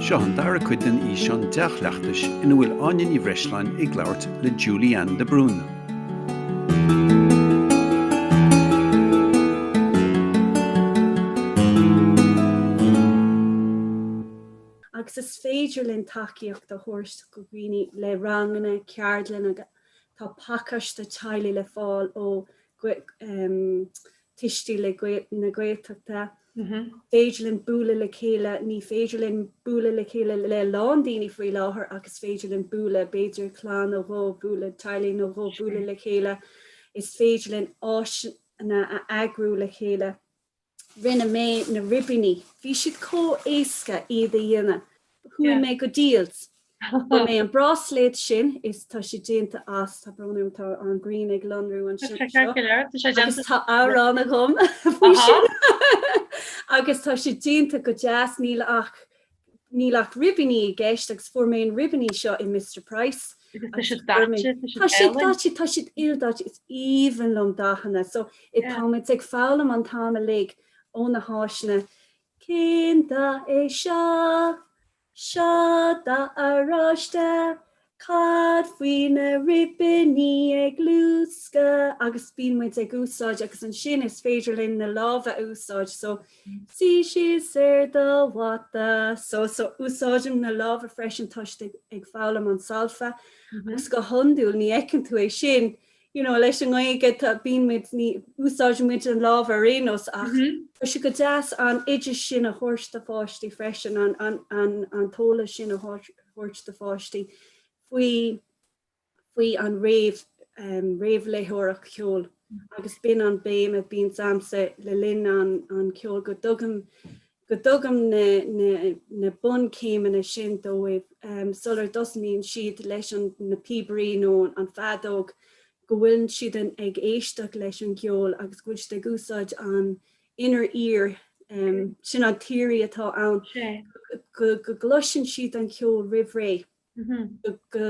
Seo an dara cuid den fhíseán dea-chleachtais ina bhfuil Áine Ní Bhreisleáin ag labhairt le Julie Anne de Brún. agus is féidir linn tacaíocht a thabhairt do dhaoine le ranganna, ceardlanna, tá pacáiste teaghlaigh le fáil ó Tuistí le na Gaeltachta. Is féidir linn bualadh le chéile. Ní féidir linn bualadh le chéile le a lán daoine faoi láthair ach is féidir linn bualadh, b'fhéidir clann nó dhó bualadh, teaghlaigh nó dhó bualadh le chéile. Is féidir linn áiseanna a eagrú le chéile. Rinne mé na ribíní. Bhí siad chomh éasca iad a dhéanamh. Chuaigh mé go Dealz. Fuair mé an bráisléad seo is tá sé déanta as, tá brón orm, tá an ghrian ag lonrú ansin agus tá amhrán agam faoi sin. Agus tá sé déanta go deas, níl ach níl ach ribíní i gceist agus fuair mé an ribíní seo i Mister Price. Tá siad ildaite, is aoibhinn liom dathanna. So, táimid ag foghlaim an t-am uilig ó na háiseanna. Cén dath é seo? Seo dath oráiste. Cad faoi na ribiní ag luascadh agus bíonn muid ag úsáid agus ansin is féidir linn na lámha a úsáid so suigh síos ar do mhata so so úsáidim na lámha freisin tá siad ag foghlaim an solfa agus go hiondúil ní fheiceann tú é sin you know, leis an nGaeilge tá, bíonn muid, ní úsáideann muid na lámha ar aon nós ach tá sé go deas an oideas sin a thabhairt do pháistí freisin, an, an, an, an t-eolas sin a thabhairt do pháistí faoi, faoi an réamh, réamhléitheoireacht cheoil agus b'in an béim a bíonns a'msa le linn an, an ceoil go dtugaim go dtugaim na bunchéimeanna sin dóibh sular dtosnaíonn siad leis na píobairí nó an feadóg, go bhfuil siad ag éisteacht leis an gceol agus go bhfuil siad ag úsáid an inner ear, sin an theoirí atá ann, go gcloiseann siad an ceol roimh ré, go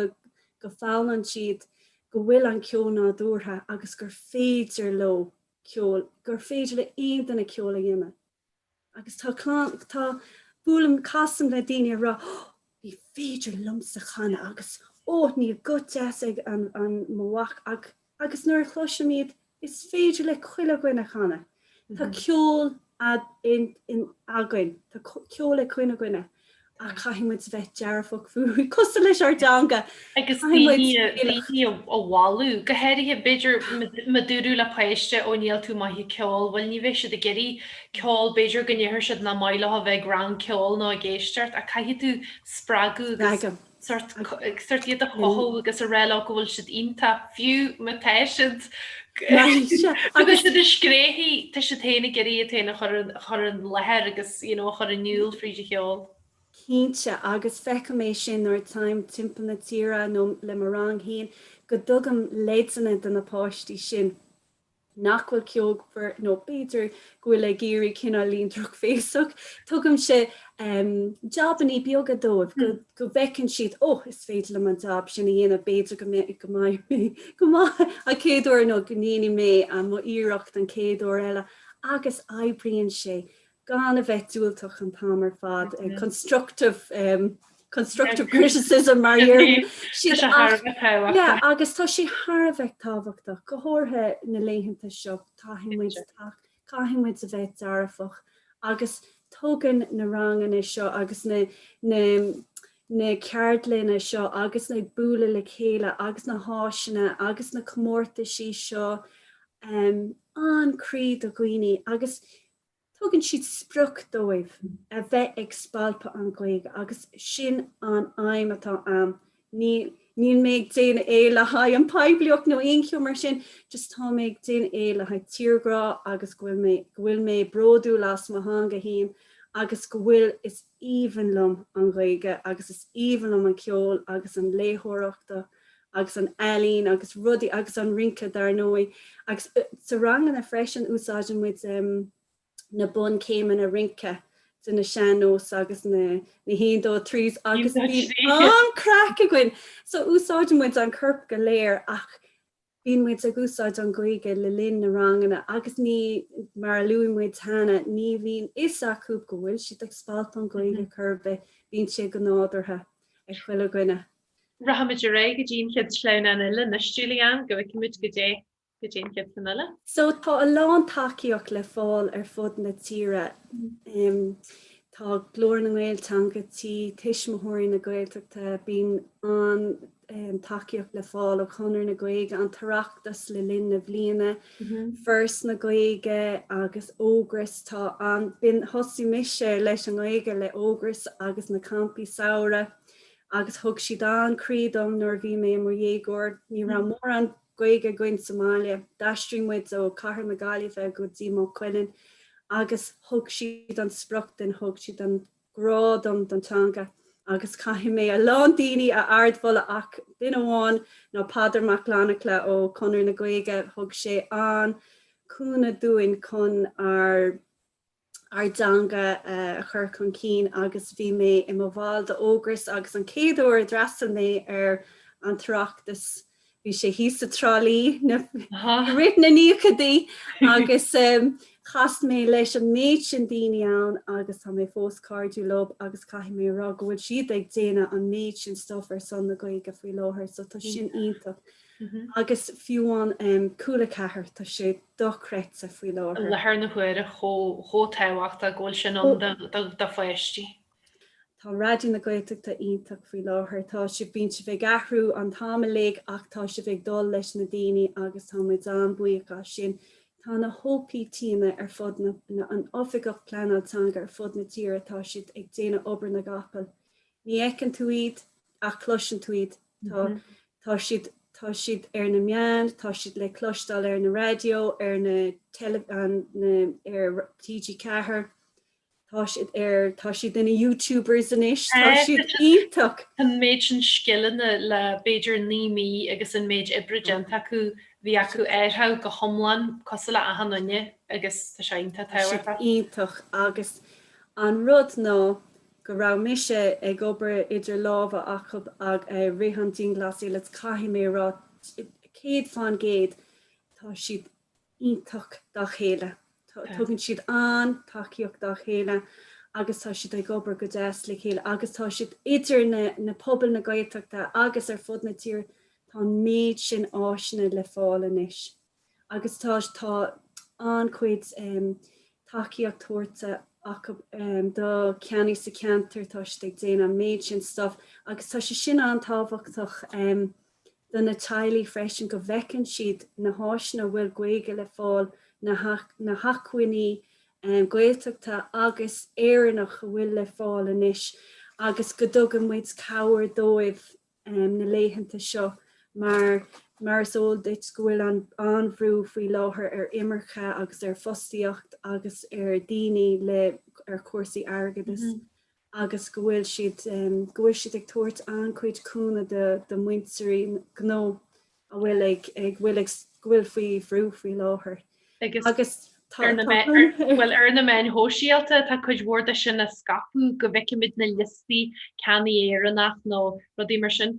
bhfoghlaimíonn siad go bhfuil an ceol nádúrtha agus gur féidir leo ceol, gur féidir le haon duine ceol a dhéanamh. agus tá tá buailim casaim le daoine a rá oh ní féidir liomsa canadh agus oh níl guth deas ag an an mo mhac agus nuair a chloisim iad is féidir le chuile dhuine canadh tá ceol ionainn tá ceol ag chuile dhuine Ach caithfidh muid bheith dearfach faoi cosúil leis ár dteanga. Agus iad a mholadh, go háirithe b'fhéidir má dúradh le páiste ó níl tú maith ag ceol, bhuel ní bheidh siad ag iarraidh ceol, b'fhéidir go ndéarfaidh siad nach maith leo a bheith ag rang ceoil nó ag éisteacht, ach caithfidh tú spreagadh agus sórt iad a chothú agus a rá leo go bhfuil siad iontach fiú má tá siad go bhfuil siad ag scréachaíl tá siad féin ag iarraidh iad féin a chur a chur i láthair agus you know a chur in iúl fríd an cheol. Cinnte agus feicim mé sin nuair a théim timpeall na tíre nó le mo rang féin go dtugaim leideanna do na páistí sin. nach bhfuil ceolmhar nó b'fhéidir go bhfuil ag iarraidh cineál bheith drochbhéasach, tugaimse jabannaí beaga dóibh go bhfeiceann siad, oh, is féidir liom an jab sin a dhéanamh, b'fhéidir go mbeidh mé go maith an chéad uair nó go ndéanfaidh mé mo iarracht an chéad uair eile agus oibríonn sé gan a bheith diúltach an t-am ar fad constructive constructive criticism mar a déarfaidh siad Tá sé thar a bheith tábhachtach. Yeah agus tá sé thar a bheith tábhachtach go háirithe na laethanta seo caithfidh muid caithfidh muid a bheith dearfach agus tugann na ranganna seo agus na na na ceardlanna seo agus na bualadh le chéile agus na háiseanna agus na comórtaisí seo an-chroí do dhaoine agus Tugann siad sprioc dóibh a bheith ag spalpadh an Ghaeilge agus sin an aidhm atá a'm. Níl mé ag déanamh é le haghaidh an poiblíocht nó aon cheó mar sin, just tá mé ag déanamh é le haghaidh tírghrá agus go bhfuil mé bródúil as mo theanga fhéin agus go bhfuil, is. aoibhinn liom an Ghaeilge agus is aoibhinn liom an ceol agus an léitheoireachta agus an ealaín agus rudaí agus an rince dar ndóigh agus sa ranganna freisin úsáideann muid na bun céimeanna rince de na sean nós agus na na haon dó trí agus bíonn an-chraic againn so úsáideann muid an corp go léir ach Bíonn muid ag úsáid an Ghaeilge le linn na ranganna agus ní, mar a luaigh muid cheana, ní bhíonn fhios acu go bhfuil siad ag spalpadh an Ghaeilge chor ar bith, bíonn sé go nádúrtha ag chuile dhuine. Rachaimid ar aghaidh go dtí an chéad sleamhnán eile anois, Julianne, go bhfeicfimid go dtí an chéad cheann eile. So tá a lán tacaíocht le fáil ar fud na tíre. Tá Glór na nGael, Teanga Tí, Tuismitheoirí na Gaeltachta, bíonn an, an-tacaíocht le fáil ó Chonradh na Gaeilge, An tOireachtas le linn na bliana, Foras na Gaeilge agus Ógras. Tá an, bíonn, thosaigh mise leis an nGaeilge le Ógras agus na campaí samhraidh agus thug siad an-chroí dom nuair a bhí mé i mo dhéagóir. Ní raibh mórán Gaeilge againn sa mbaile. D'aistrigh muid ó cathair na Gaillimhe go dtí Maigh Cuilinn agus thug siad an sprioc dom, thug siad an. grá dom don teanga agus caithfidh mé a lán daoine a ardmholadh ach duine amháin ná Peadar Mac Fhlannchadha ó Conradh na Gaeilge thug sé an-cúnamh dúinn chun ár dteanga a chur chun cinn agus bhí mé i mo bhall d'Ógras agus an chéad uair a d'fhreastal mé ar an tOireachtas Bhí sé thíos i dTrá Lí i rith na nóchaidí agus chas mé leis an méid sin daoine ann agus tá mé fós cairdiúil leo agus caithfidh mé a rá go bhfuil siad ag déanamh an méid sin stuif ar son na Gaeilge faoi láthair so tá sin iontach agus fiú amháin Cúla ceathair tá sé dochreidte faoi láthair. Láthair na huaire chomh tábhachtach go bhfuil sé sin ann do pháistí. Tá Raidió na Gaeltachta iontach faoi láthair. Tá sibh, bíonn sibh ag athrú an t-am uilig ach tá sibh ag dul leis na daoine agus tá muid an-bhuíoch as sin. Tá na hOPTanna ar fud na, na hOifigigh Pleanála Teanga ar fud na tíre, tá siad ag déanamh obair na gcapall. Ní fheiceann tú iad ach cloiseann tú iad. Tá, tá siad, tá siad ar na meáin, tá siad le cloisteáil ar na raidió, ar na teilif, an na, ar TG4. Tá siad ar, tá siad ina YouTubers anois, tá siad iontach! An méid sin scileanna le b'fhéidir naoi mí agus an méid oibre déanta acu, bhí acu athrú go hiomlán cosúil le achan duine agus tá sé iontach tábhachtach. Iontach agus an rud ná go raibh mise ag obair idirghabhála acu ag i rith an dianghlasáil agus caithfidh mé a rá céad fán gcéad tá siad, iontach dá chéile. Tugann siad an-tacaíocht dá chéile agus tá siad ag obair go deas le chéile agus tá siad idir na pobail na Gaeltachta agus ar fud na tíre tá an méid sin áiseanna le fáil anois agus tá tá an-chuid tacaíocht tabhairta acu do cheannaithe sa cheantar tá siad ag déanamh an méid sin stuff agus tá sé sin an-tábhachtach agus do na teaghlaigh freisin go bhfeiceann siad na háiseanna a bhfuil Gaeilge le fáil, na hacmhainní Gaeltachta agus Éireannach a bhfuil le fáil anois agus go dtugann muid cabhair dóibh na laethanta seo mar, mar is eol duit, go bhfuil an-bhrú faoi láthair ar imirce agus ar fostaíocht agus ar dhaoine le, ar chúrsaí airgeadais. agus go bhfuil siad go bhfuil siad ag tabhairt an-chuid cúnamh do úinéirí gnó a bhfuil ag ag bhfuil ag go bhfuil faoi bhrú faoi láthair agus bhuel, ar na meáin shóisialta tá cuid mhór de sin á scaipeadh go bhfeicfimid na liostaí ceannaí Éireannach nó rudaí mar sin.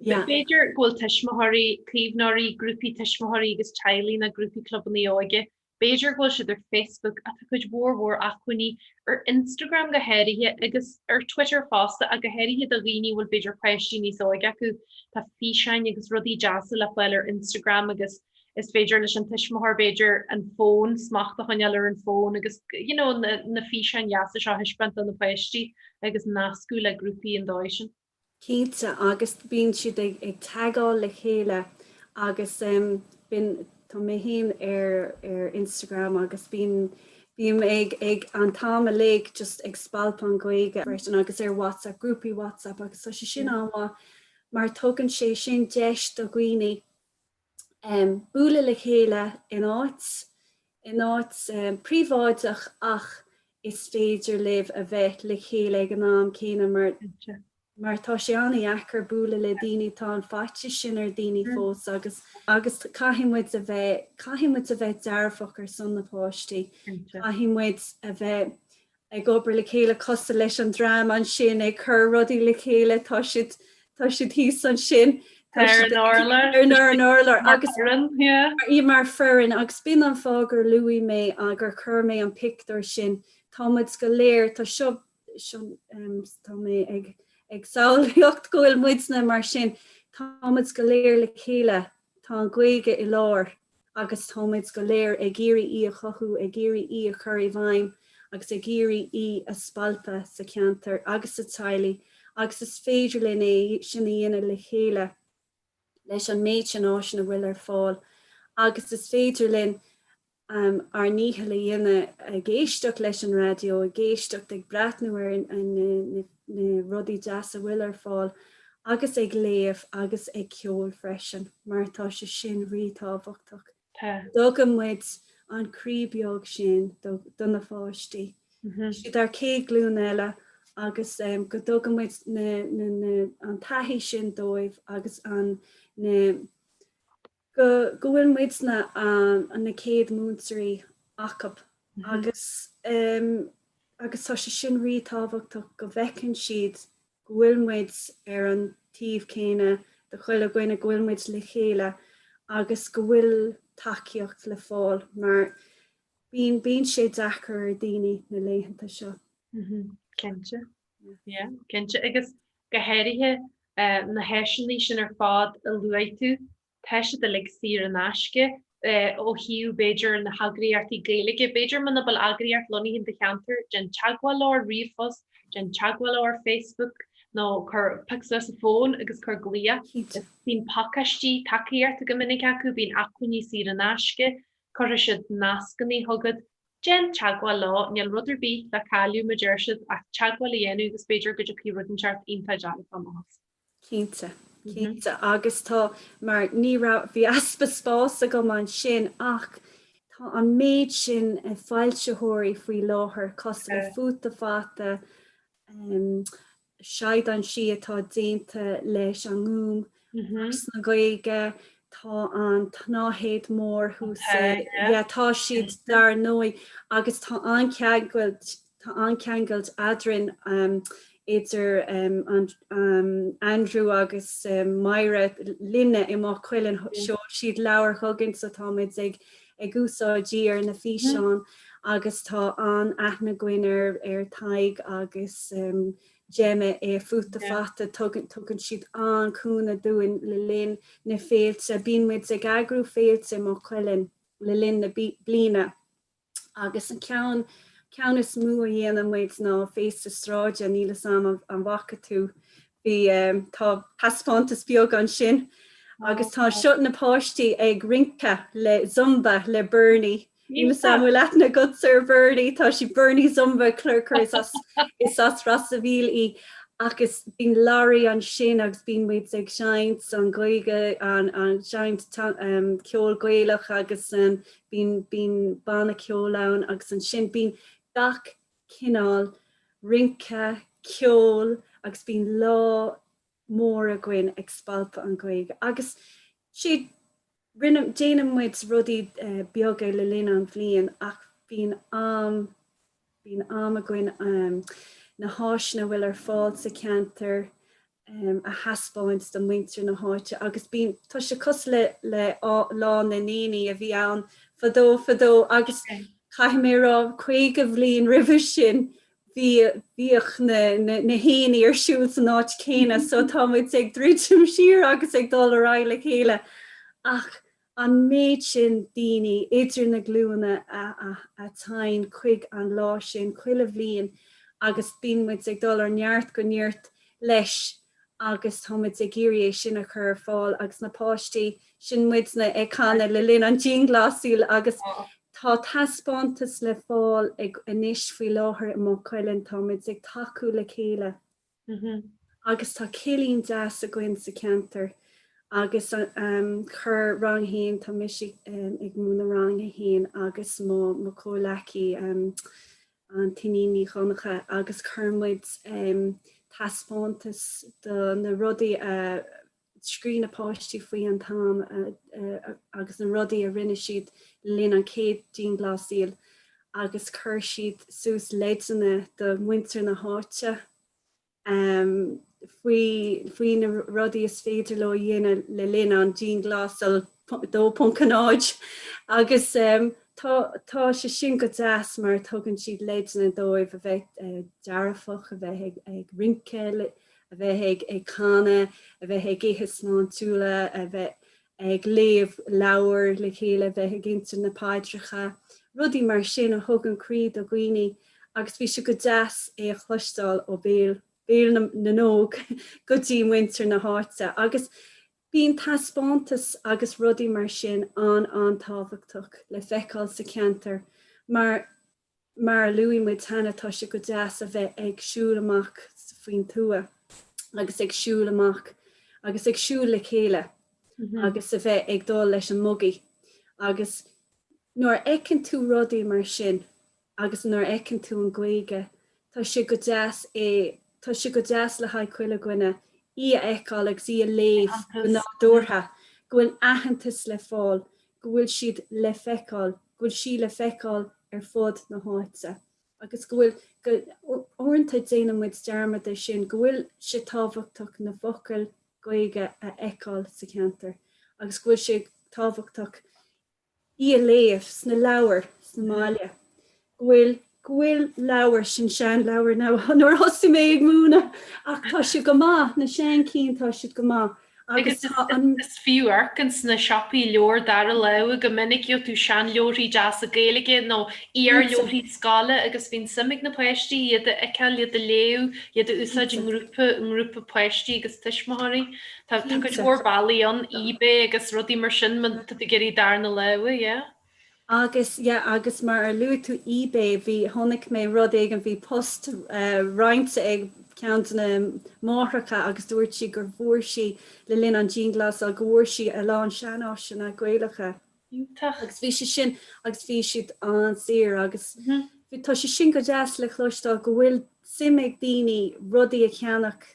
B'fhéidir go bhfuil tuismitheoirí, caomhnóirí, grúpaí tuismitheoirí agus teaghlaigh nó grúpaí clubanna óige B'fhéidir go bhfuil siad ar Facebook ach tá cuid mhór mhór acmhainní ar Instagram go háirithe agus ar Twitter fosta ach go háirithe do dhaoine a bhfuil b'fhéidir páistí níos óige acu. Tá físeáin agus rudaí deasa le fáil ar Instagram agus is féidir leis an tuismitheoir b'fhéidir an fón, smacht a choinneáil ar an fón agus you know na físeáin dheasa seo a thaispeáint do na páistí agus nascadh le grúpaí ar an dóigh sin. Cinnte, agus bíonn siad ag ag teagáil le chéile agus em bíonn tá mé féin ar ar Instagram agus bíonn bím ag ag an t-am uilig just ag spalpadh an Ghaeilge freisin agus ar WhatsApp grúpaí WhatsApp agus tá sé sin an-mhaith mar tugann sé sin deis do dhaoine bualadh le chéile in áit, in áit príobháideach ach is féidir libh a bheith le chéile ag an am céanna mar, mar tá sé an-dheacair bualadh le daoine, tá an faitíos sin ar daoine fós agus, agus caithfidh muid a bheith, caithfidh muid a bheith dearfach ar son na páistí, caithfidh muid a bheith, ag obair le chéile cosúil leis an dream ansin ag cur rudaí le chéile tá siad tá siad thíos ansin tá siad ar an urlár agus í mar foireann agus bíonn an fáth gur luaigh mé agus gur chuir mé an pictiúr sin tá muid go léir tá seo seo tá mé ag ag samhlaíocht go bhfuil muidne mar sin tá muid go léir le chéile Tá an Ghaeilge i lár agus táimid go léir ag iarraidh í a chothú, ag iarraidh í a chur i bhfeidhm agus ag iarraidh í a spalpadh sa cheantar agus sa teaghlaigh agus is féidir linn é sin a dhéanamh le chéile leis an méid sin áiseanna a bhfuil ar fáil agus is féidir linn um ár ndícheall a dhéanamh, ag éisteacht leis an raidió, ag éisteacht, ag breathnú ar na rudaí deasa a bhfuil ar fáil agus ag léamh agus ag ceol freisin mar tá sé sin rí-tábhachtach. Tá. Go dtugann muid an croí beag sin do na páistí, is iad ár céad glún eile agus um go dtugann muid na an taithí sin dóibh agus an na, go go bhfuil muidne an na céad múinteoirí acub agus em agus tá sé sin rí-tábhachtach go bhfeiceann siad go bhfuil muid ar an taobh céanna de chuile dhuine, go bhfuil muid le chéile agus go bhfuil tacaíocht le fáil mar bíonn bíonn sé deacair ar daoine na laethanta seo. Cinnte. Yeah, cinnte, agus go háirithe na háiseanna sin ar fad a luaigh tú, tá siad uilig saor in aisce ó thaobh b'fhéidir na heagraíochtaí Gaeilge, b'fhéidir muna bhfuil eagraíocht lonnaithe in do cheantar, déan teagmháil leo ar ríomhphost, déan teagmháil leo ar Facebook nó cuir pioc suas an fón agus cuir glao. Cinnte. Bíonn pacáistí tacaíochta go minic acu, bíonn acmhainní saor in aisce, cuirfidh siad nascanna chugat. Déan teagmháil leo, níl rud ar bith le cailleadh ma deir siad, as teagmháil a dhéanamh agus b'fhéidir go dtiocfaidh rud inteacht iontach deas as am amach. Cinnte, cinnte agus tá mar ní raibh, bhí easpa spáis agam ansin ach tá an méid sin foilsitheoirí faoi láthair cosúil le Futa Fata, Seaghán Sí atá déanta leis an nGúm, Áras na Gaeilge, tá an tsnáthaid mhór thuas i, yeah, tá siad dar ndóigh agus tá an-cheangailt, tá an-cheangailt eadrainn, idir Andrew agus Myra, linne i Maigh Cuilinn, sheol siad leabhair chugainn so tá muid ag, ag úsáid iad ar na físeáin agus tá an-aithne againn ar Tadhg agus Gemma i Futa Fata, tugann, tugann siad an-chúnamh dúinn le linn na féilte. Bíonn muid ag eagrú féilte i Maigh Cuilinn le linn na bliana agus an ceann ceann is mó a dhéanann muid ná Féasta Sráide, níl 'fhios a'm an bhfaca tú Bhí tá taispeántas beag ansin agus tá anseo na páistí ag rince le zumba le Bernie. Níl 'fhios a'm an bhfuil aithne agatsa ar Bernie, tá sí Bernie Zumba cur cur is as is as Ros a' Mhíl í agus bíonn laraí ansin agus bíonn muid ag seinnt an Ghaeilge an an seinnt ta ehm ceol Gaelach agus ehm bíonn bíonn banna ceoil ann agus ansin bíonn gach cineál rince, ceol agus bíonn lá mór againn ag spalpadh an Ghaeilge agus siad. Rinne, déanann muid rudaí beaga le linn an bhliain ach bíonn am, bíonn am againn na háiseanna a bhfuil ar fáil sa cheantar um a thaispeáint do mhuintir na háite agus bíonn, tá sé cosúil le, le Lá na nDaoine a bhí ann fadó fadó agus caithfidh mé a rá caoga bhliain roimhe sin bhí, bhíodh na, na haonaigh ar siúl san áit chéanna so tá muid ag druidim siar agus ag dul ar aghaidh le chéile ach an méid sin daoine idir na glúna a théann chuig an lá sin chuile bhliain agus bíonn muid ag dul ó neart go neart leis agus tá muid ag iarraidh é sin a chur ar fáil agus na páistí, sin muidne ag canadh le linn an dianghlasáil agus tá taispeántas le fáil againn anois faoi láthair i Maigh Cuilinn, tá muid ag tacú le chéile. agus tá cillín deas againn sa cheantar agus chuir rang a haon, tá mise ag múineadh rang a haon agus mo chomhleacaí Iníon Ní Dhonncha agus chuir muid taispeántas do na rudaí a scríobh na páistí faoi an t-am agus na rudaí a rinne siad le linn an chéad dianghlasáil agus chuir siad suas leideanna do mhuintir na háite faoi na rudaí is féidir leo a dhéanamh le linn an dianghlasáil 2.0 agus tá sé sin go deas mar tugann siad leideanna dóibh a bheith dearfach, a bheith ag rince a bheith ag canadh, a bheith ag ithe sláintiúla, a bheith ag léamh leabhair le chéile, a bheith ag inse na paidreacha, rudaí mar sin a thugann croí do dhaoine agus bhí sé go deas é a chloisteáil ó bhéal, béal na n-óg go dtí muintir na háite agus bíonn taispeántais agus rudaí mar sin an-an-tábhachtach le feiceáil sa cheantar mar Mar a luaigh muid cheana, tá sé go deas a bheith ag siúl amach sa faoin tuath agus ag siúl amach agus ag siúl le chéile agus a bheith ag dul leis an mbugaí agus nuair a fheiceann tú rudaí mar sin agus nuair a fheiceann tú an Ghaeilge Tá sé go deas é, tá sé go deas le haghaidh chuile dhuine, í a fheiceáil agus í a léamh go nádúrtha, go bhfuil aitheantas le fáil, go bhfuil siad le feiceáil, go bhfuil sí le feiceáil ar fud na háite. Agus go bhfuil, go, uaireanta déanann muid dearmad air sin, go bhfuil sé tábhachtach na focail Gaeilge a fheiceáil sa cheantar agus go bhfuil sé tábhachtach, í a léamh sna leabhair sa mbaile, go bhfuil, go bhfuil leabhair, sin seanleabhair now, ó nuair a thosaigh mé ag múineadh ach tá siad go maith, na sean cinn, tá siad go maith agus is fiú amharc ins na siopaí leabhar dara láimhe go minic, gheobhaidh tú seanleabharthaí deasa Gaeilge nó iarleabharthaí scoile agus bíonn suim ag na páistí iad a fheiceáil, iad a léamh, iad a úsáid i ngrúpa, i ngrúpa páistí agus tuismitheoirí. Tá cuid mhór bealaí ann, Ebay agus rudaí mar sin, má tá tú ag iarraidh darna láimhe, yeah. Agus, yeah, agus mar ar luaigh tú Ebay, bhí, chonaic mé rud éigin, bhí post roinnte ag ceann de na máithreacha agus dúirt sí go bhfuair sí, le linn an dianghlasáil, go bhfuair sí a lán seanáiseanna Gaelacha. Agus bhí sé sin, agus bhí siad an-saor agus tá sé sin go deas le cloisteáil go bhfuil suim ag daoine rudaí a cheannach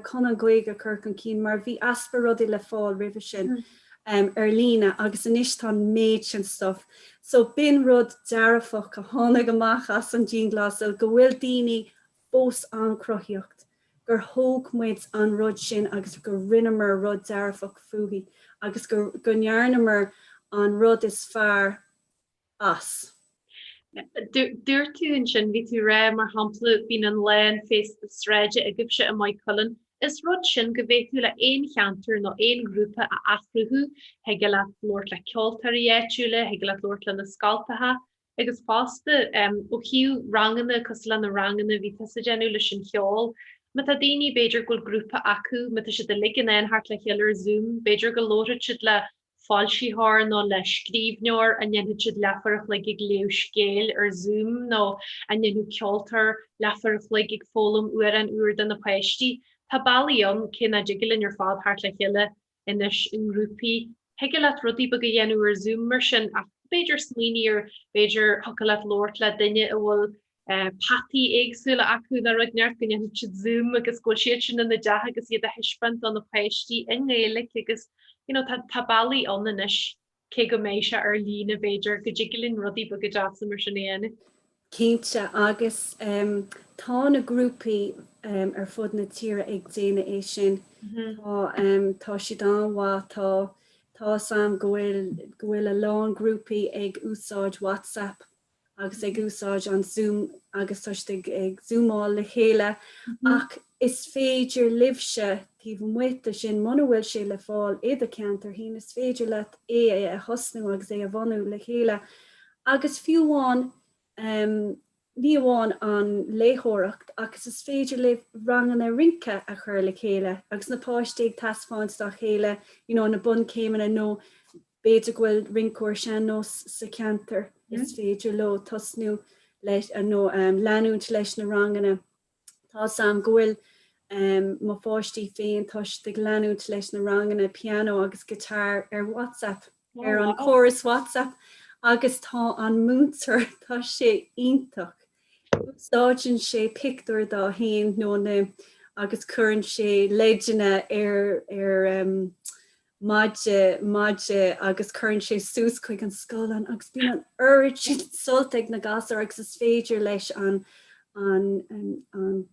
chun an Ghaeilge a chur chun cinn mar bhí easpa rudaí le fáil roimhe sin ar líne agus anois tá an méid sin stuif. So b'in rud dearfach a tháinig amach as an dianghlasáil, go bhfuil daoine fós an-chruthaíocht, gur thóg muid an rud sin agus gur rinneamar rud dearfach faoi agus go ndearnamar an rud is fearr as. Dúirt tú ansin, bhí tú rá, mar shampla, bíonn an lá féasta sráide agaibhse i Maigh Cuilinn, is rud sin go bhféadfá le aon cheantar nó aon ghrúpa a athchruthú, thigeadh leat labhairt le ceoltóirí áitiúla, thigeadh leat labhairt le na scoltacha agus fosta, ó thaobh ranganna, cosúil le na ranganna bhí tusa déanamh leis an cheol, má tá daoine, b'fhéidir go bhfuil grúpa acu, má tá siad uilig in ann teacht le chéile ar Zoom, b'fhéidir go labharfadh siad le foilsitheoir nó le scríbhneoir an ndéanfadh siad leathuair a chloig ag léamh scéil ar Zoom nó an ndéanfadh ceoltóir leathuair a chloig ag foghlaim amhrán úr do na páistí. Tá bealaí ann, cé nach dtig linn ar fad teacht le chéile anois i ngrúpaí. Thigeadh leat rudaí beaga a dhéanamh ar Zoom mar sin ach b'fhéidir smaoineamh ar, b'fhéidir thiocfadh leat labhairt le duine a bhfuil peataí éagsúla acu nó rud inteacht go ndéanfadh siad zoom agus go bhfuil siad sin ina dteach agus iad a thaispeáint do na páistí i nGaeilge agus you know tá tá bealaí ann anois cé go mbeidh sé ar líne b'fhéidir go dtig linn rudaí beaga deasa mar sin a dhéanamh. Cinnte agus em tá na grúpaí em ar fud na tíre ag déanamh é sin tá em tá siad an-mhaith tá tá a fhios agam go bhfuil go bhfuil a lán grúpaí ag úsáid WhatsApp agus ag úsáid an Zoom agus tá siad ag zúmáil le chéile ach is féidir libhse taobh amuigh de sin, muna bhfuil sé le fáil i do cheantar fhéin, is féidir leat é a thosnú agus é a bhunú le chéile agus fiú amháin ní amháin an léitheoireacht ach is féidir libh ranganna rince a chur le chéile agus na páistí ag taispeáint dá chéile you know na bunchéimeanna nó B'fhéidir go bhfuil rinceoir sean-nós sa cheantar is féidir leo tosnú leis nó leanúint leis na ranganna. Tá's a'm go bhfuil mo pháistí féin tar éis leanúint leis na ranganna piano agus guitar ar WhatsApp, ar an chóras WhatsApp agus tá an múinteoir, tá sé iontach, úsáideann sé pictiúr dá aon nóta agus cuireann sé leideanna ar ar. maide, maide agus cuireann sé suas chuig an scáileán agus bíonn an oiread sin sult ag na gasúir agus is féidir leis an an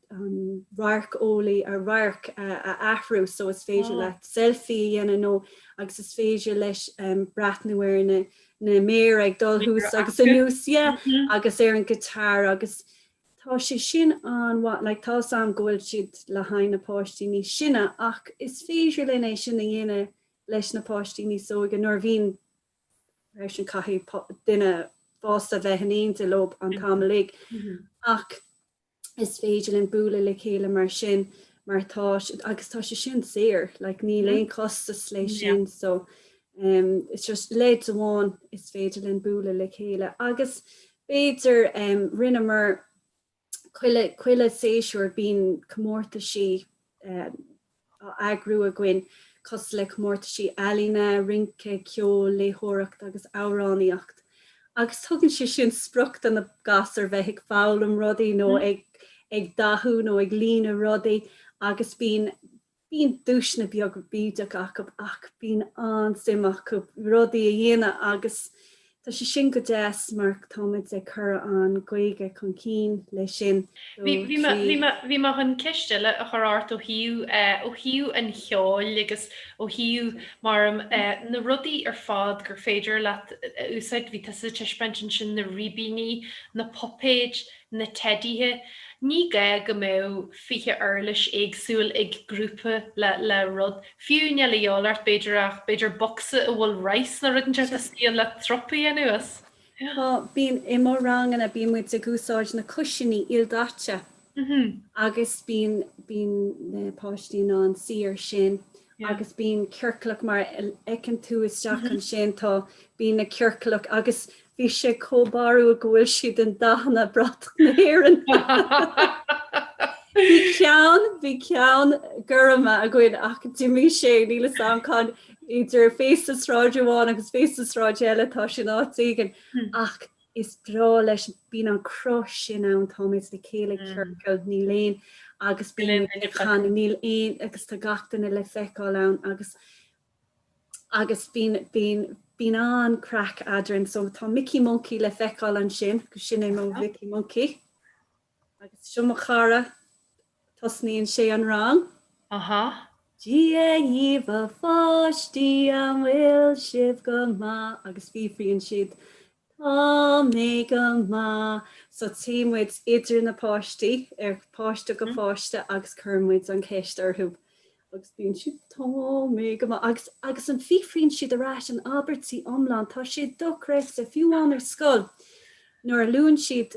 radharc, eolaí, an radharc a athrú so is féidir leat selfie a dhéanamh nó agus is féidir leis breathnú ar na na méara ag dul thuas agus anuas yeah agus ar an guitar agus Tá sé sin an-mhaith, like tá 'fhios a'm go bhfuil siad le haghaidh na páistí níos sine ach is féidir linn é sin a dhéanamh leis na páistí níos óige nuair a bhíonn seisean caithfidh duine fásta bheith in éinde leob an t-am uilig ach is féidir linn bualadh le chéile mar sin mar tá agus tá sé sin saor, like níl mm-hmm. aon costas lei sin so um, it's just leid amháin is féidir linn bualadh le chéile agus b'fhéidir. Rinneamar chuile, chuile séasúr bíonn comórtaisí á eagrú againn cosúil le comórtaisí ealaíne, rince, ceol, léitheoireacht agus amhránaíocht agus tugann sé sin sprioc do na gasúir bheith ag foghlaim rudaí nó ag ag dathú nó ag líonadh rudaí agus bíonn, Bíonn duaiseanna beaga bídeacha acu ach bíonn an-suim acu rudaí a dhéanamh agus tá sé sin go deas mar táimid ag cur an Ghaeilge chun cinn leis sin. Bhí, bhí mé, bhí mé, bhí mé chun ceist eile a chur ort ó thaobh, ó thaobh an cheoil agus ó thaobh, mar na rudaí ar fad gur féidir leat a úsáid, bhí tusa ag taispeáint ansin na ribíní, na puipéid, na teidithe, ní gá go mbeadh 20 uirlis éagsúil ag grúpa le le rud, fiú, níl de dhíth ort b'fhéidir ach b'fhéidir bocsa a bhfuil rice nó rud inteacht istigh ann le titim anuas. Tá, bíonn, i mo ranganna bíonn muid ag úsáid na cuisiní ildaite agus bíonn, bíonn na páistí in ann suí air sin agus bíonn ciorclach mar a fheiceann tú isteach ansin tá bíonn na ciorclach agus bhí sé chomh barrúil go bhfuil siad in dathanna bratach na hÉireann bhí ceann bhí ceann gorma againn ach d'imigh sé níl fhios a'm cén áit idir féasta sráide amháin agus féasta sráide eile tá sé in áit éigin ach is breá leis, bíonn an cruth sin ann, táimid le chéile ag ciorcal, níl aon, agus bíonn, níl aon, agus tá gach duine le feiceáil ann agus agus bíonn, bíonn, bíonn an-craic eadrainn. So tá Micí Moncaí le feiceáil ansin, sin é mo Mhicí Moncaí. Agus seo mo chara, tosnaíonn sé an rang. Aha. Dia dhaoibh a pháistí, an bhfuil sibh go maith? Agus freagraíonn siad Tá mé go maith. So téann muid idir na páistí, ó pháiste go pháiste agus cuireann muid an cheist orthu. agus bíonn siad tá mé go maith agus agus freagraíonn siad ar ais in abairtí iomlán tá sé dochreidte fiú amháin ar scoil nuair a labhraíonn siad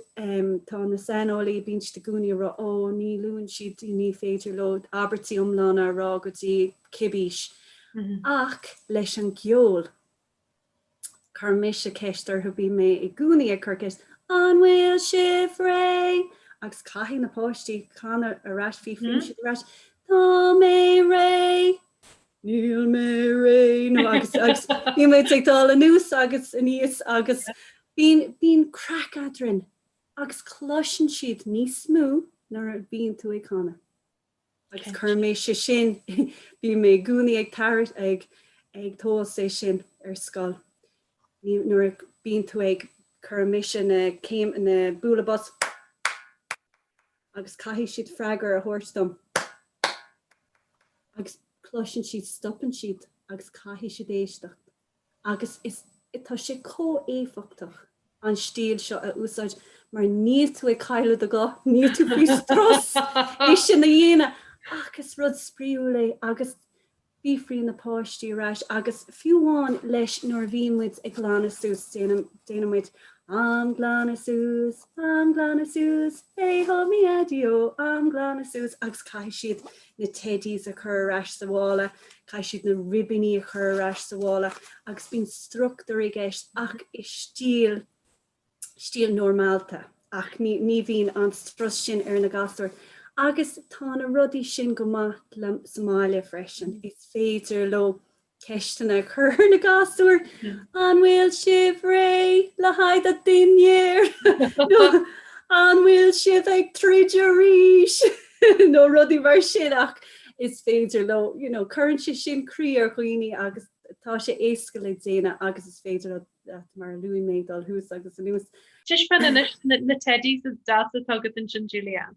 tá na saineolaí bíonn siad i gcónaí ag rá ó ní labhraíonn siad ní féidir leo abairtí iomlána a rá go dtí cibé aois ach leis an gceol. Cuireann mise ceist orthu, bíonn mé i gcónaí ag cur ceist, an bhfuil sibh réidh? agus caithfidh na páistí canadh ar ais, freagraíonn siad ar ais, tá mé réidh, níl mé réidh, nó agus agus bíonn muid ag dul anuas agus aníos agus bíonn bíonn craic eadrainn agus cloiseann siad níos mó nuair a bhíonn tú ag canadh. agus cuireann mise é sin. Bíonn mé i gcónaí ag tabhairt, ag, ag tomhas é sin ar scoil. Nuair a bíonn tú ag, cuireann mise na céim, na bualadh bos agus caithfidh siad freagra a thabhairt dom agus cloiseann siad, stopann siad agus caithfidh siad éisteacht. agus is tá sé chomh éifeachtach an stíl seo a úsáid mar níl tú ag cailleadh do ghuth, níl tú faoi strus é sin a dhéanamh ach is rud spraíúil é agus freagraíonn na páistí ar ais agus fiú amháin leis nuair a bhíonn muid ag glanadh suas déanann déanann muid am glanadh suas am glanadh suas hey ho mi adio am glanadh suas agus caithfidh siad na teidís a chur ar ais sa mhála, caithfidh siad na ribíní a chur ar ais sa mhála agus bíonn struchtúr i gceist ach i stíl, stíl normálta. Ach ní, ní bhíonn an strus sin ar na gasúir agus tá na rudaí sin go maith le, sa mbaile freisin. Is féidir leo Ceisteanna a chur ar na gasúir, An bhfuil sibh réidh le haghaidh an dinnéar? nó An bhfuil sibh ag troid arís? nó rudaí mar sin ach is féidir leo, you know, cuireann sé sin croí ar dhaoine agus tá sé éasca le déanamh agus is féidir leat, mar a luaigh mé, dul thuas agus anuas. Taispeáin anois na Teddies is deasa atá agat ansin, Julianne.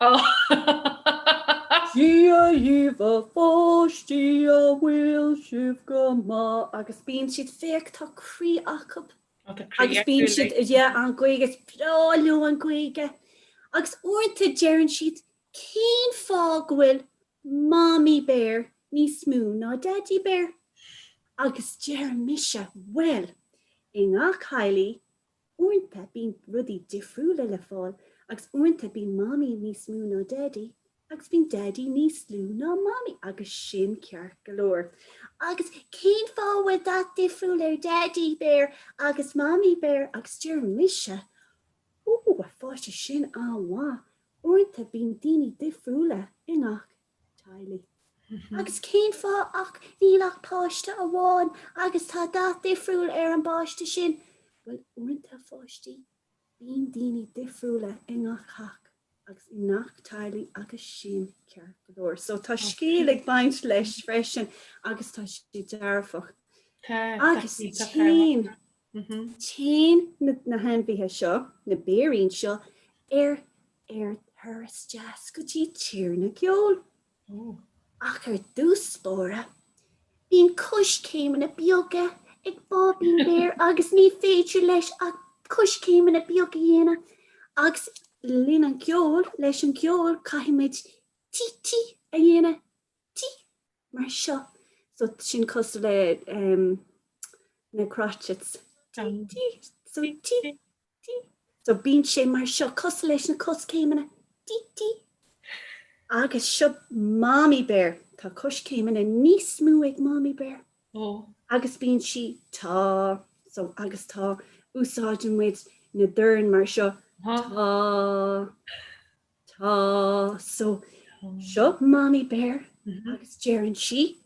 Sea! Dia dhíbh a pháistí, an bhfuil sibh go maith? Agus bíonn siad, féach, tá croí acub. Agus bíonn siad, yeah, an Ghaeilge, is breá leo an Ghaeilge. Agus uaireanta deireann siad, cén fáth go bhfuil Mamaí Béar níos mó ná Daidí Béar? Agus deirim mise, bhuel, i ngach theaghlaigh, Uaireanta bíonn rudaí difriúla le fáil agus uaireanta bíonn mamaí níos mó ná daidí agus bíonn daidí níos lú ná mamaí agus sin ceart go leor. Agus cén fáth a bhfuil dath difriúil ar daidí béar agus mamaí béar agus deir mise, Ó, a pháistí sin an-mhaith, uaireanta bíonn daoine difriúla i ngach teaghlaigh. Agus cén fáth ach níl ach páiste amháin agus tá dath difriúil ar an bpáiste sin? Bhuel, uaireanta a pháistí, bíonn daoine difriúla i ngach theach agus i ngach teaghlaigh agus sin ceart go leor. So tá scéal ag baint leis freisin agus tá sé dearfach. Agus Téann na hainmhithe seo, na béirín seo, ar ar turas deas go dtí tír na gceol. Ach ar dtús báire, bíonn coiscéimeanna beaga ag Báibín Béar agus ní féidir leis ach coiscéimeanna beaga a dhéanamh agus le linn an cheoil, leis an gceol, caithfidh muid Tee-tee a dhéanamh. tí mar seo. So sin cosúil le ehm na crotchets. Tí, tí, so tí, tí. So bíonn sé mar seo, cosúil leis na coiscéimeanna, tí, tí. Agus seo Mommy Bear. Tá coiscéimeanna níos mó ag Mommy Bear. Ó. Agus bíonn sí, tá, so agus tá, úsáideann muid na doirne mar seo, tá. Tá, so seo Mamaí Béar agus deireann sí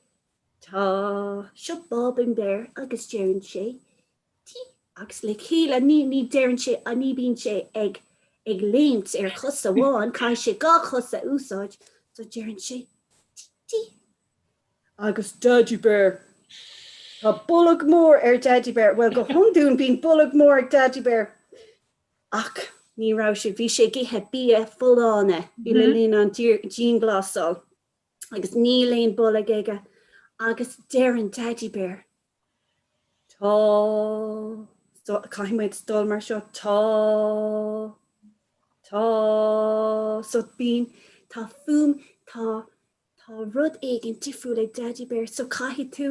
tá, seo Báibín Béar agus deireann sé tí agus le chéile ní, ní deireann sé, ní bíonn sé ag, ag léimt ar chos amháin, caithfidh sé dhá chos a úsáid, so deireann sé tí. Agus Daidí Béar, tá bolg mór ar Dhaidí Béar, bhuel go hiondúil bíonn bolg mór ag Daidí Béar, Ach ní raibh sé, bhí sé ag ithe bia folláine le linn an dianghlasáil agus níl aon bolg aige agus deireann Daidí Béar, Tá, caithfidh muid dul mar seo, tá, tá, so bíonn, tá fuaim, tá, tá rud éigin difriúil ag Daidí Béar so caithfidh tú,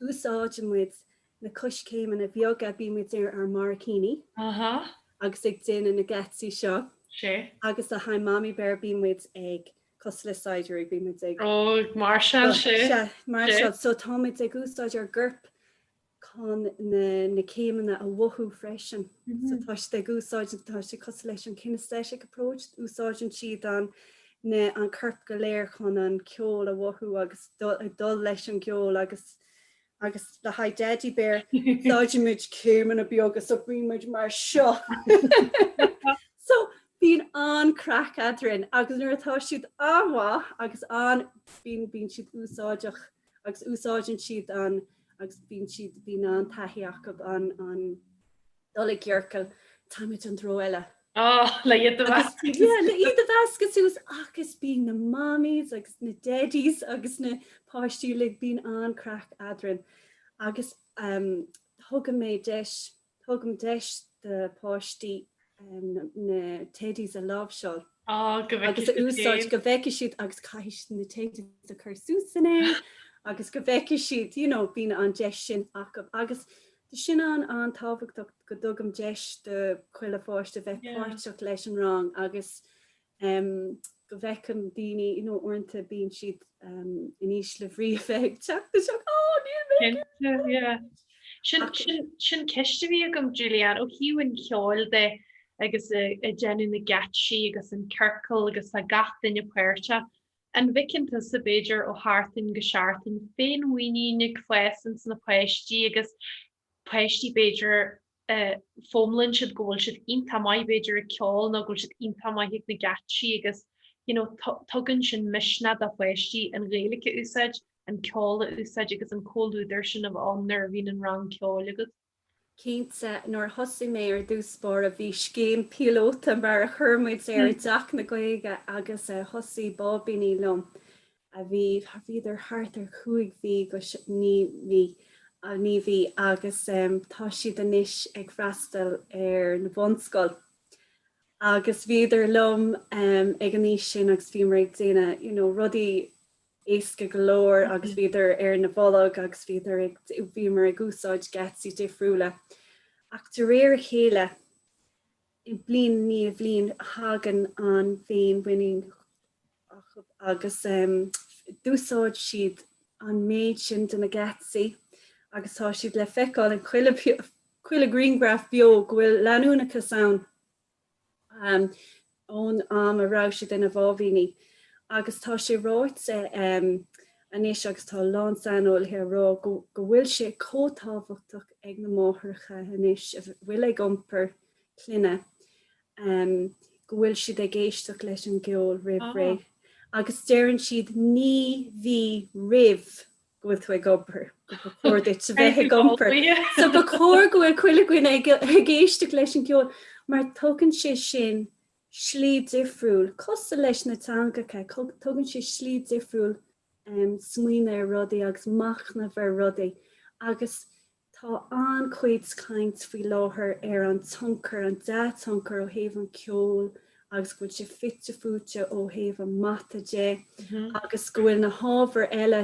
agus úsáideann muid na coiscéimeanna beaga, bíonn muid ar ár mbarraicíní agus ag déanamh na geáitsí seo agus le haghaidh Mamaí Béar bíonn muid ag, cosúil le saighdiúirí, bíonn muid ag, ag máirseáil, máirseáil so tá muid ag úsáid ár gcoirp chun na na céimeanna a mhothú freisin so tá siad ag úsáid tá sé cosúil leis an kinesthetic approach úsáideann siad an siad an corp go léir chun an ceol a mhothú agus ag dul leis an gceol agus agus le haghaidh Daidí Béar tá againn céimeanna beaga so bíonn muid mar seo so bíonn an-chraic eadrainn agus nuair atá siad an-mhaith agus an bíonn bíonn siad úsáideach agus úsáideann siad an agus bíonn siad bíonn an-taithí acu an an Dul i gciorcal. Téimid an treo eile. Áh, le iad a mheascadh. Yeah, le iad a mheascadh suas agus bíonn na Mammies agus na Daddies agus na páistí uilig, bíonn an-chraic eadrainn agus tugann mé deis, tugaim deis do pháistí na Teddies a láimhseáil agus a úsáid go bhfeicfidh siad agus caithfidh siad na Teddies a chur suas san aer agus go bhfeicfidh siad, you know, bíonn an deis sin acu agus Tá sin an- an-tábhachtach go dtugaim deis do chuile pháiste bheith páirteach leis an rang agus go bhfeiceann daoine you know uaireanta bíonn siad in ísle brí a bheith ag teacht isteach oh níl mé ag iarraidh yeah sin sin ceist a bhí agam Julianne ó thaobh an cheoil de agus ag déanamh na geáitsí agus an ciorcal agus tá gach duine páirteach An bhfeiceann tusa, b'fhéidir, ó sheachtain go seachtain, féinmhuinín ag fás ins na páistí agus páistí, b'fhéidir, foghlaimíonn siad go bhfuil siad iontach maith, b'fhéidir, ag ceol nó go bhfuil siad iontach maith ag na geáitsí agus you know tugann sin misneach do pháistí an Ghaeilge a úsáid, an ceol a úsáid agus an comhluadar sin a bheith ann nuair a bhíonn an rang ceoil agat. Cinnte, nuair a thosaigh mé ar dtús báire bhí scéim píolóta mar a chuir muid air i dTeach na Gaeilge agus thosaigh báibíní liom a bhí, bhíodar thart ar chúig mhí go naoi mí, naoi mhí agus tá siad anois ag freastal ar na bunscoil agus bhíodar liom ag an aois sin agus bhíomar ag déanamh you know rudaí, éasca go leor agus bhíodar ar na bolg agus bhíodar ag, bhíomar ag úsáid geáitsí difriúla ach de réir a chéile i bliain i ndiaidh bhliain thagann an fhéinmhuinín agus d'úsáid siad an méid sin de na geáitsí agus tá siad le feiceáil i chuile chuile grianghraf beo go bhfuil leanúnachas ann ón am a raibh siad ina mbáibíní agus tá sé ráite anois agus tá a lán saineolaithe ag rá go bhfuil sé chomh tábhachtach ag na máithreacha anois a bhfuil ag iompar clainne go bhfuil siad ag éisteacht leis an gceol roimh ré agus deireann siad naoi mhí roimh go bhfuil tú ag iompar, gur chóir duit a bheith ag iompar, so ba chóir go bhfuil chuile dhuine ag éisteacht leis an gceol mar tugann sé sin slí difriúil, cosúil leis na teangacha, tugann sé slí difriúil smaoineamh ar rudaí agus machnamh ar rudaí agus Tá an-chuid caint faoi láthair ar an tionchar, an dea-tionchar ó thaobh an cheoil agus go bhfuil sé fite fuaite ó thaobh an mata de agus go bhfuil na hábhair eile,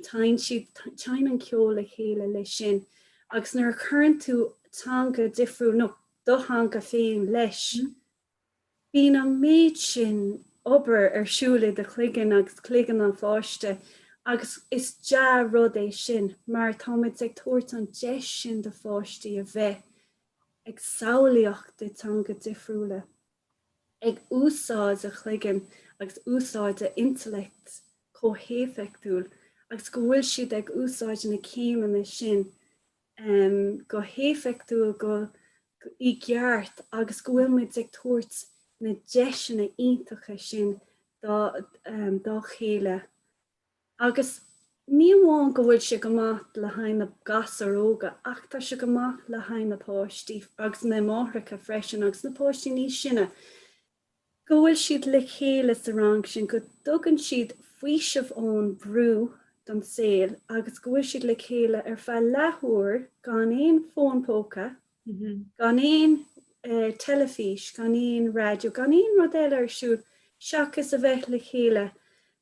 téann siad, téann an ceol le chéile leis sin. Agus nuair a chuireann tú teanga difriúil nó do theanga féin leis Bíonn an méid sin obair ar siúl i do chloigeann agus cloigeann an pháiste agus is dea-rud é sin mar táimid ag tabhairt an deis sin do pháistí a bheith ag samhlaíocht i dteanga difriúla, ag úsáid a gcloigeann agus úsáid a intellect chomh héifeachtúil agus go bhfuil siad ag úsáid na céimeanna sin um go héifeachtúil go i gceart agus go bhfuil muid ag tabhairt na deiseanna iontacha sin dá um dá chéile agus ní amháin go bhfuil sé go maith le haghaidh na gasúir óga ach tá sé go maith le haghaidh na páistí agus na máithreacha freisin agus na páistí níos sine go bhfuil siad le chéile sa rang sin, go dtugann siad faoiseamh ón mbrú don saol agus go bhfuil siad le chéile ar feadh leathuair gan aon fón póca, gan aon teilifís, gan aon raidió, gan aon rud eile ar siúl seachas a bheith le chéile,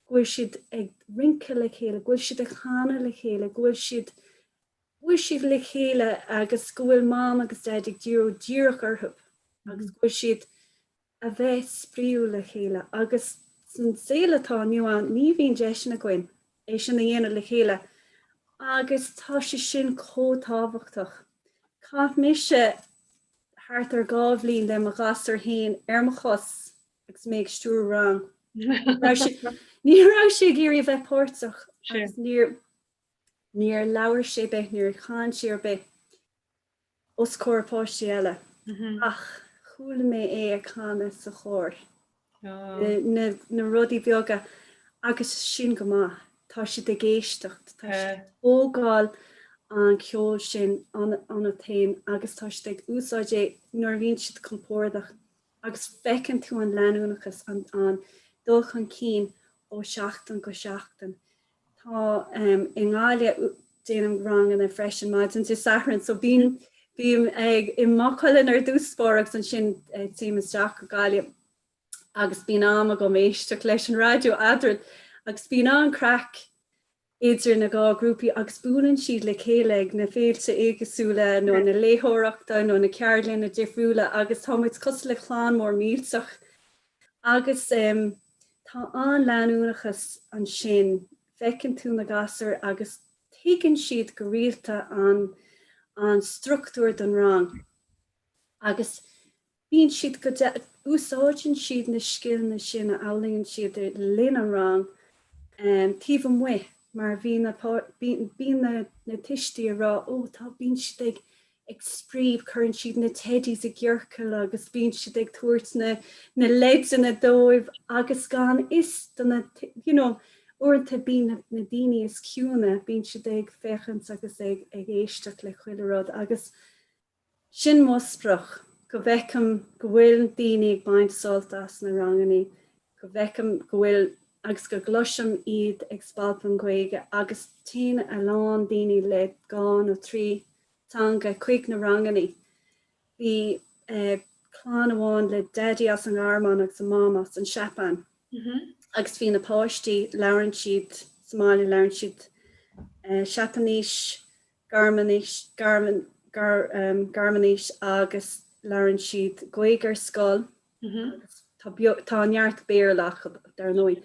go bhfuil siad ag rince le chéile, go bhfuil siad ag canadh le chéile, go bhfuil siad go bhfuil siad le chéile agus go bhfuil Mam agus Daid ag díriú díreach orthu agus go bhfuil siad a bheith spraoi le chéile agus san saol atá inniu ann ní bhíonn deiseanna againn é sin a dhéanamh le chéile agus tá sé sin chomh tábhachtach. Chaith mise thart ar dhá bhliain le mo ghasúr fhéin ar mo chos agus mé ag stiúradh rang. Ní raibh sé ag iarraidh a bheith páirteach agus níor. Níor labhair sé ar bith, níor chan sé ar bith os comhair páistí eile ach chuala mé é ag canadh sa chór. Na rudaí beaga agus sin go maith. Tá siad ag éisteacht, tá siad ag tógáil an cheoil sin iontu féin agus tá siad ag úsáid é nuair a bhíonn siad compordach agus feiceann tú an leanúnachas, an dul chun cinn ó sheachtain go seachtain. Tá i nGaillimh, déanaim ranganna freisin maidin Dé Sathairn so bím bím i Maigh Cuilinn ar dtús agus ansin téim isteach go Gaillimh agus bíonn am agam éisteacht leis an raidió eadrainn agus bíonn an-craic idir na dhá grúpaí agus buaileann siad le chéile ag na féilte éagasúla nó na léiritheoireachta nó na ceardlainne difriúla agus tá muid cosúil le clann mór millteach Agus tá an-leanúnachas ansin, feiceann tú na gasúir agus tagann siad go rialta an struchtúr don rang agus bíonn siad go, úsáideann siad na scileanna sin a fhoghlaíonn siad le linn an rang taobh amuigh mar bhíonn na tuistí a rá 'ó tá, bíonn siad ag ag spraoi, cuireann siad na teidís i gciorcal agus bíonn siad ag tabhairt na leideanna dóibh agus gan fhios do na, you know, uaireanta bíonn na daoine is ciúine, bíonn siad ag féachaint agus ag éisteacht le chuile rud agus sin mo sprioc, go bhfeicim go bhfuil daoine ag baint sult as na rangannaí, go bhfeicim go bhfuil, agus go gcloisim iad ag spalpadh an Ghaeilge agus téann a lán daoine le dhá nó trí. teanga chuig na rangannaí. Bhí clann amháin le Daidí as an nGearmáin agus a Mam as an tSeapáin agus bhí na páistí, labhrann siad sa mbaile, labhrann siad Seapáinis, Gearmáinis, Gearmáinis agus labhrann siad Gaeilge ar scoil. Agus tá neart Béarla acu, dar ndóigh.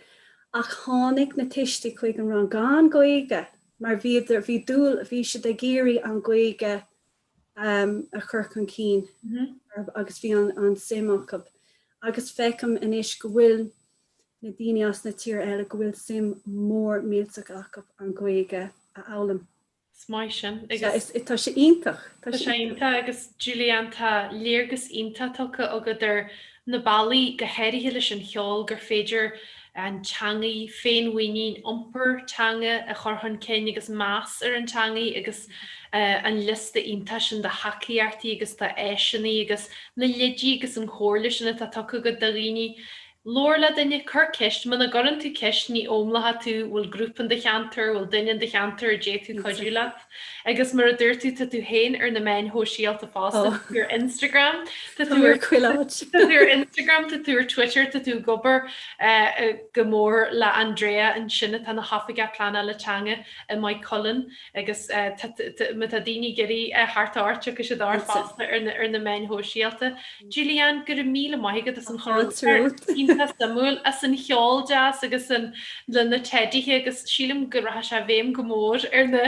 Ach tháinig na tuistí chuig an rang gan Gaeilge mar bhí, bhí dúil, bhí siad ag iarraidh an Gaeilge a chur chun cinn agus bhí an suim acu. Agus feicim anois go bhfuil na daoine as na tír eile go bhfuil suim mór millteach acu an Gaeilge a fhoghlaim. Is maith sin agus. Sea, tá sé iontach. Tá sé iontach agus Julianne tá léargas iontach tugtha agat ar na bealaí, go háirithe leis an cheol, gur féidir an teangaidh, féinmhuinín, iompar teanga a chur chun cinn agus meas ar an teangaidh agus an liosta iontach sin de thacaíochtaí agus de áiseannaí agus na lidí agus an chomhairle sin atá tugtha agat do dhaoine Labhair le duine, cuir ceist, muna gcuireann tú ceist ní fhoghlaimeoidh tú, bhfuil grúpa in do cheantar, bhfuil duine in do cheantar a d'fhéadfadh cuidiú leat? Agus mar a dúirt tú tá tú féin ar na meáin shóisialta fosta, tá tú ar Instagram, tá tú ar chuile áit, tá tú ar Instagram, tá tú ar Twitter, tá tú ag obair go mór le Andrea ansin atá ina hoifigeach pleanála teanga i Maigh Cuilinn agus tá, má tá daoine ag iarraidh teacht ort, tiocfaidh siad ort fosta ar na meáin shóisialta. Gillian, Go raibh míle maith agat as an chur i láthair iontach suimiúil, as an cheol deas agus an leis na teidithe agus sílim go rachaidh sé i bhfeidhm go mór ar na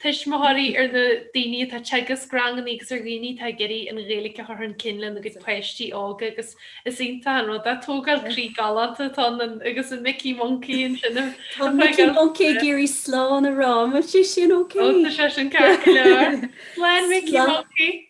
tuismitheoirí, ar na daoine atá ag teagasc ranganna agus ar dhaoine atá ag iarraidh an Ghaeilge a chur chun cinn lena gcuid páistí óga agus is iontach an rud é, tógáil croí galánta atá ann agus an Micí Moncaí ansin ag tógáil croí. Tá Micí Moncaí ag iarraidh slán a rá, an bhfuil sé sin ok? Ó tá sé sin ceart go leor. Slán Micí Moncaí!